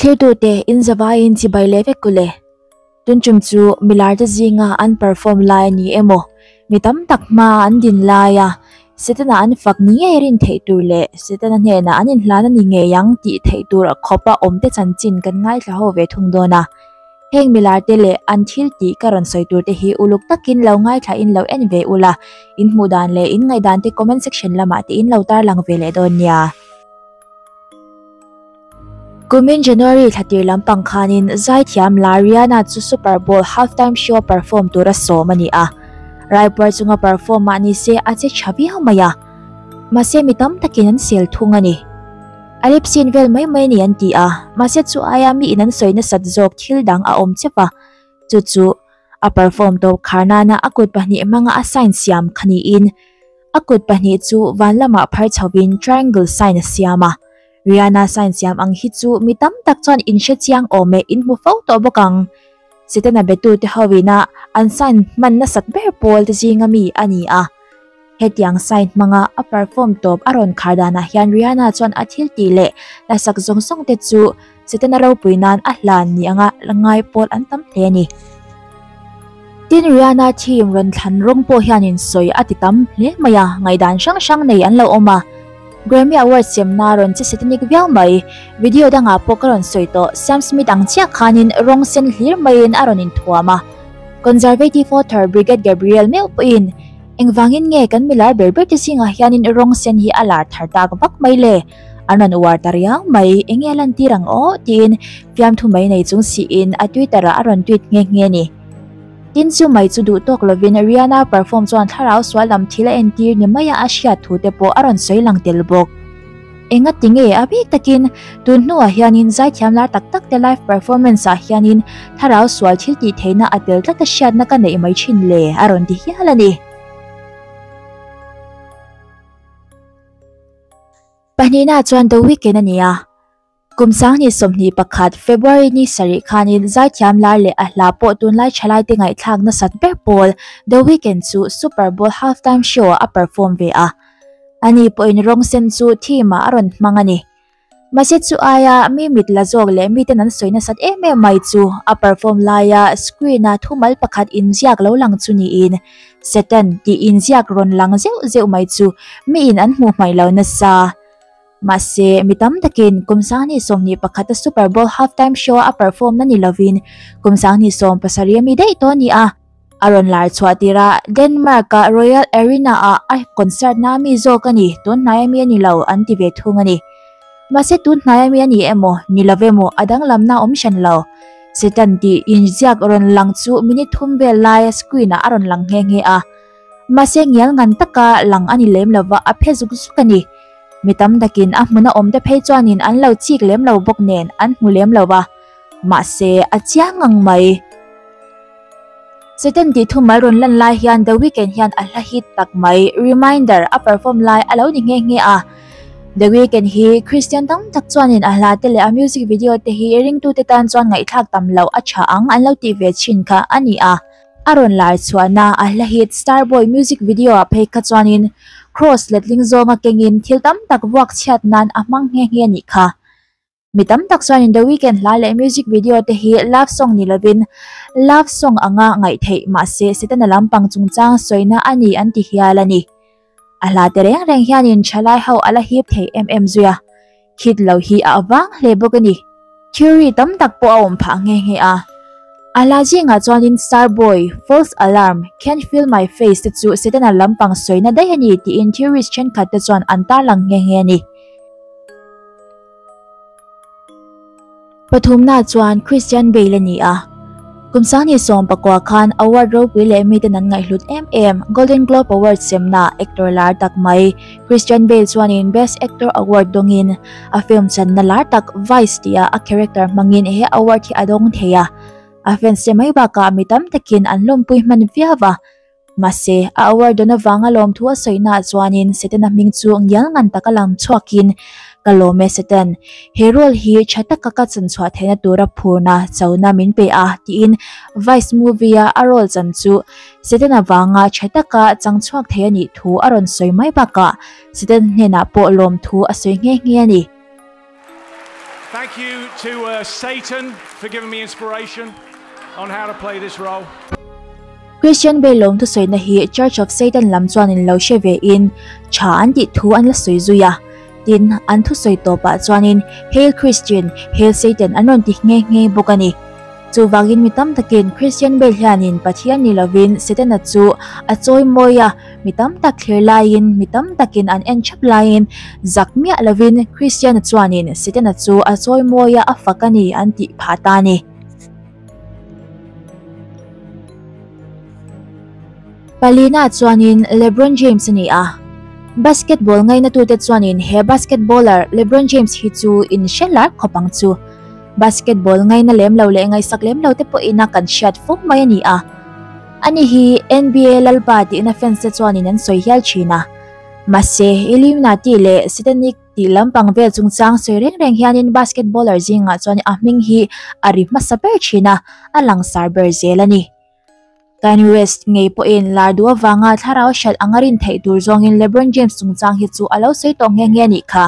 Thirtute inzavaiin chibai leh vek u le. Tunchum chu milar te zinga an perform lai a ni emaw, mi tam tak hmaa an din lai a. Setana an fak ni ngei rin theih tur leh Setana hnenah an inhlan a ni ngei ang tih theih tur khawpa awmte chanchin kan ngaithla ho ve thung dawn a. Heng milar te leh an thil tih ka rawn sawi tur te hi uluk takin lo ngaithla in lo en ve ula, in hmuh dan leh in ngaih dan te comment section lamah tiin lo tarlang ve leh dawn nia. Kumin January thla tir lampang khanin zaithiam Lariana chu Super Bowl half time show a perform tur a sawm a ni a. Raipuar chunga perform mah ni se a che tha viau mai a. Mahse mi tam takin an sel thung a ni. A lip sync vel mai mai a ni an ti a. Mahse chu aia mi in an sawi nasat zawk thil dang a awm che va. Chu chu a perform tawh khar nana a kut pahnih hmanga a sign siam kha niin a kut pahnih chu van lamah phar chho in triangle sign a siam a, Rihanna sign siam ang hi chu mi tam tak chuan in hre chiang awm e, in hmu fo tawh bawk ang. Sitena betute ho ina an sign hman nasat ber pawl te zinga mi a ni a. Hetiang sign hmanga a perform tawp a rawn khar danah hian Rihanna chuan a thil tih leh la sak zawng zawng te chu Setana ropui nan a hlan ni anga la ngai pawl an tam hle a ni. Tin, Rihanna team rawn thlan rawng pawh hianin sawi a ti tam hle mai a, ngaihdan hrang hrang nei an lo awm a. Grammy Award siamna rawn che Setanic viau mai. Video dangah pawh ka rawn sawi tawh, Sam Smith ang chiah khanin rawng sen hlir maiin a rawn inthuam a. Conservative voter Brigette Gabriel meuh pawhin, Engvangin nge kan milar ber ber te zingah hianin rawng sen hi a lar thar tak vak mai le? An rawn uar ta riang mai, enge a lantir ang aw? tiin fiamthu mai nei chung siin a Twitter-ah a rawn tweet nghe nghe ni. Tin, chu mai chu duh tawk lovin Rihanna perform chuan thlarau sual lam thil a entir ni maia a hriat thute pawh a rawn sawi lang tel bawk. Enga tinge a bik takin tun hnuah hianin zaithiam lar tak tak te live performance ah hianin Tharau sual thil tih theihna a tel tlata hriatna ka neih mai thin le a rawn ti hial a ni. Pahnihna chuan The Weekend a ni a, kum sangni sawmhnih pakhat February ni sarih khanin zaithiam lar leh a hla pawh tunlai thalai te ngaihthlak nasat ber pawl The Weekend chu Super Bowl half time show ah a perform ve a. Ani pawhin rawng sen chu theme-ah a rawn hmang a ni. Mahse chu aia mi mit la zawk leh miten an sawi nasat em em mai chu a perform laia screen-a thu mal pakhat inziak lo lang chu niin Satan tih inziak rawn lang zeuh zeuh mai chu miin an hmuh hmaih lo nasa. Mahse mi tam takin Kumsangni sawmhnih pakhata Super Bowl half time show-a a perform na ni lovin Kumsangni sawm pasarih a mi daih tawh a ni a. A rawn lar chhuah tir a, Denmark a Royal Arena ah a concert na mi zawk a ni, tunhnai a mi a ni lo an ti ve thung a ni. Mahse tunhnai a mi a ni emaw, ni lo ve maw a danglamna a awm hran lo. Satan tih inziak rawn lang chu minute thum vel laia screen ah a rawn lang nghe nghe a. Mahse ngial ngan taka lang a ni lem lova, a phe zuk zuk a ni. Mi tam takin a hmuna awmte phei chuanin an lo chik lem lo bawk nen an hmu lem lo va. Mahse, a chiang ngang mai. Satan tihthum a rawn lan lai hian The Weeknd hian a hla hit tak mai. Reminder a perform lai a lo ni nghe nghe a. The Weeknd hi Christian tam tak chuanin a hla te leh a music video te hi ringtu te tan chuan ngaihthlak tam loh a tha ang an lo tih ve thin kha a ni a. A rawn laichhuahna a hla hit Starboy music video ah phei kha chuanin Cross letling zawnga kengin thil tam tak vuak chhiat nan a hmang nghe nghe nih kha. Mi tam tak chuanin The Weeknd hla leh music video te hi love song ni lovin love song anga ngaih theih mahse Setana lampang chungchang sawina a ni an ti hial a ni. A hla te reng reng hianin thalai ho a la hip thei em em zui a, hit lo hi a avang hle bawk a ni. Theory tam tak pawh a awm phah nghe nghe a. A hla zingah chuanin Starboy, False Alarm, Can't Feel My Face te chu Setana lampang sawina daih a ni tiin theories thenkhat te chuan an tarlang nghe nghe a ni. Pathumna chuan Christian Bale a ni a. Kumsang ni sawm pakua khan award ropui leh mi ten an ngaihhlut em em. Golden Globe Award semna actor lar tak mai Christian Bale chuanin Best Actor Award dawngin a film channa lar tak Vice tih ah a character hmangin he award hi a dawng thei a. A fans te mai bakah mi tam takin an lawmpui hman viau a. Mahse, a awar dawn avanga lawmthu a sawihnaah chuanin Setana hming chu ngial ngan taka lang chhuakin, Ka lawm e Satan. He role hi tha taka ka chanchhuah theihna tura phurna chona min pe a, tiin Vice movie-a a role chan chu Satan avanga tha taka chang chhuak thei a nih thu a rawn sawi mai bakah Satan hnenah pawh lawmthu a sawi nghe nghe a ni. Thank you to Satan for giving me inspiration on how to play this role. Christian vel lo hnu sawina hi Church of Satan lam chuanin lo hre ve in tha an tih thu an la sawi zui a. Tin, an thu sawi tawpah chuanin Hail Christian, Hail Satan an rawn ti nghe nghe bawk a ni. Chuvangin mi tam takin Christian vel hianin Pathian ni lovin Satan-a chu a chawi mawi a. mi tam tak thlir laiin mi tam takin an en thap laiin zak miah lovin kristiana chuanin sitana chu a chawi mawi a a fak a ni an tih phah ta a ni palina chuanin lebron james a ni a basketball ngaina tute chuanin he basketballer lebron james hi chu in hre lar khawp ang chu basketball ngaina lem lo leh ngai sak lem lo te pawh ina kan hriat fawng mai a ni a Ani hi NBA Lalpa tihna fans te chuanin an sawi hial thin a. Mahse, Illuminati leh Satanic tih lampang vel chungchang sawi reng reng hianin basketballer zingah chuan a hming hi a ri hmasa ber thin a, a langsar ber zel a ni. Kanye West ngei pawhin lardu avanga thlarau hriat anga rin theih tur zawngin Lebron James chungchang hi chu a lo sawi tawh nghe nghe a nih kha.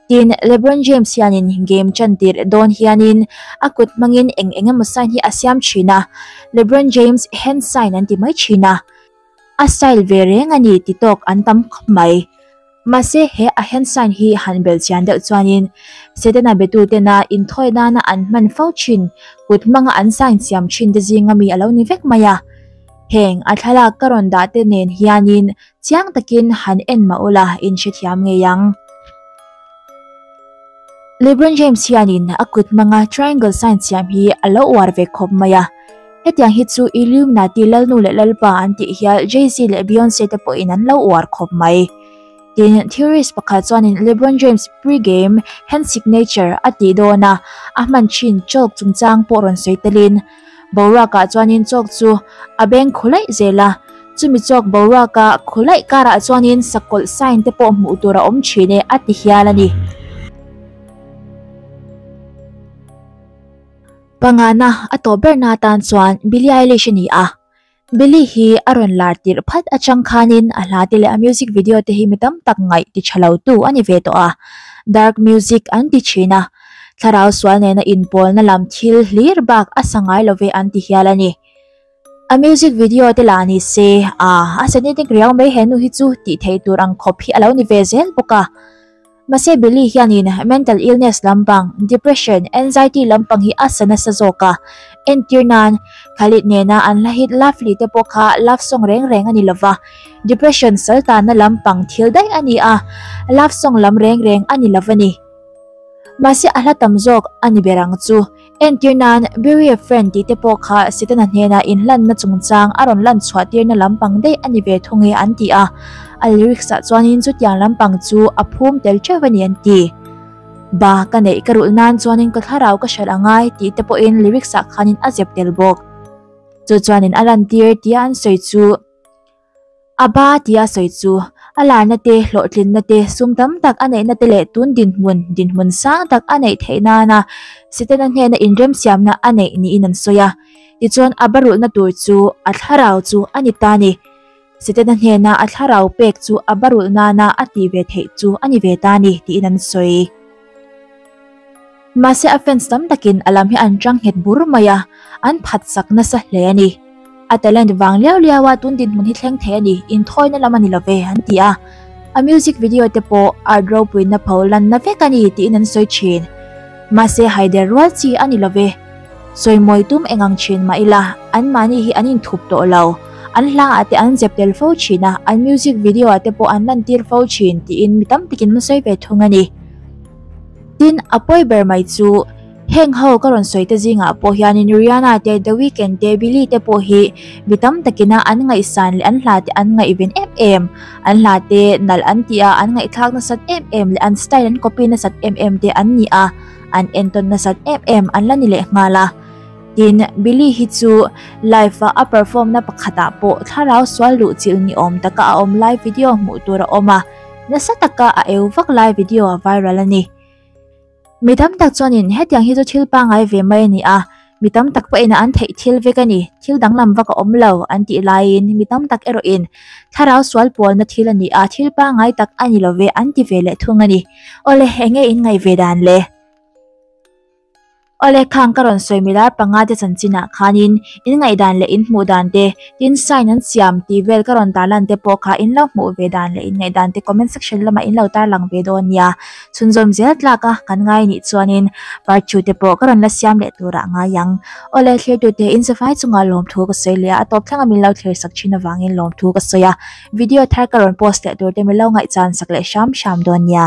Tin, Lebron James hianin game chan tirh dawn hianin a kut hmangin eng eng emaw sign hi a siam thin a. Lebron James hand sign an ti mai thin a, a style ve reng a ni ti tawk an tam khawp mai. Mahse, he a hand sign hi han bel chian deuh chuanin Setana biatu tena inthawi nana an hman fo thin, kut hmanga an sign siam thin te zing a mi a lo ni vek mai a. Heng, a thlalak ka rawn dah te nen hianin Chiang takin han en mah ula in hrethiam ngei ang. Lebron James hianin a kut hmanga triangle sign siam hi a lo uar ve khawp mai a. Hetiang hi chu Illuminati lalnu leh lalpa an tih hial Jay-Z leh Beyonce te pawhin an lo uar khawp mai. Tin, theorist pakhat chuanin Lebron James pre-game hand signature a tih dawn a, a hman thin chalk chungchang pawh rawn sawi telin, boruakah chuanin chawk chu a beng khawlaih zel a, chumi chawk boruaka khawlaih karah chuanin sakawlh sign te pawh hmuh tur a awm thin e a ti hial a ni. Pangngahnaa a tawh berna atan chuan Billie Eilish a ni a, Billy hi a rawn lar tirh phat atang khanin a hla te leh a music video te hi mi tam tak ngaih ti tha lo tu a ni ve tawh a, dark music an ti thin a, thlarau sual nena inpawlna lam thil hlir bak a sa ngai lo ve an ti hial a ni. A music video te lah ni se, a, a satanic riau mai he nu hi chu tih theih tur ang khawp hi a lo ni ve zel bawk a, Mahse Billy hianin mental illness lampang, depression, anxiety lampang hi a sa nasa zawk a. Entir nan Khalid nena an hla hit Lovely te pawh kha love song reng reng a ni lova. Depression saltanna lampang thil daih a ni a, love song lam reng reng a ni lova ni. Mahse a hla tam zawk a ni ber ang chu. Entir nan, Bury a friend tih te pawh kha Setana hnena inhlanna chungchang a rawn lan chhuah tirna lampang daih a ni ve thung e an ti a. A lyrics ah chuanin chutiang lampang chu a phum tel teuh a ni an ti. Ba, ka neih ka rulh nan chuanin ka thlarau ka hralh a ngai tih te pawhin lyrics ah khanin a zep tel bawk. Chu chuanin a lantir tia an sawi chu. A ba tia a sawi chu. A larna te, hlawhtlinna te, sum tam tak a neihna te leh tun dinhmun, dinhmun sang tak a neih theih nana Sitana hnena inremsiamna a neih niin an sawi a. Tichuan, a ba rulhna tur chu a thlarau chu a ni ta ni. Sitana hnena a thlarau pek chu a ba rulh nana a tih ve theih chu a ni ve ta ni tiin an sawi. Mahse a fans tam takin a lam hi an tang nghet bur mai a, an phatsak nasa hle a ni. A talent vang liau liau a, tun dinhmun hi thleng thei a ni, inthawina lam a ni lo ve, an ti a. A music video te pawh art ropuina pho lanna vek a ni, tiin an sawi thin. Mahse haider rual chi a ni lo ve. Sawimawi tum engang thin mah ila, an mahni hi an inthup tawh lo. An hla ah te an zep tel fo thin a, an music video ah te pawh an lantir fo thin, tiin mi tam takin hmasawi ve thung a ni. Tin, a pawi ber mai chu, heng ho ka rawn sawi te zingah pawh hianin Rihanna te, The Weeknd te, Billie te pawh hi mi tam takina an ngaihsan leh an hla te an ngaihven em em, an hla te nalh an ti a, an ngaihthlak nasat em em leh an style an copy nasat em em te an ni a. an entawn nasat em em an la ni leh nghal a. Tin, Billy hi chu live-a a perform-na pakhatah pawh thlarau sual luh chil ni awm taka a awm lai video hmuh tur a awm a, nasa taka a eu vak lai video a viral a ni. Mi tam tak chuanin hetiang hi chu thil pangai ve mai a ni a, mi tam tak pawh in an theih thil vek a ni thil danglam vak a awm lo an tih laiin mi tam tak erawh in thlarau sual pawlna thil a ni a thil pangngai tak a ni lo ve an ti ve leh thung a ni aw le eng nge in ngaih ve dan le aw le khang ka rawn sawi mi lai panga te chanchinah khanin in ngaih dan leh in hmuh dan te tin sign an siam tih vel ka rawn tarlan te pawh kha in lo hmuh ve dan leh in ngaih dan te comment section lamah in lo tarlang ve dawn nia. chhunzawm zel tlaka kan ngai anih chuanin parchute pawh ka rawn la siam leh tur a ngai ang. Awle thlertute in zavai chunga lawmthu ka sawi leh a, a tawp thlanga min lo thlersak thin avangin lawmthu ka sawi a, video thar ka rawn post leh turte min lo ngaihchhan sak leh hram hram dawn nia.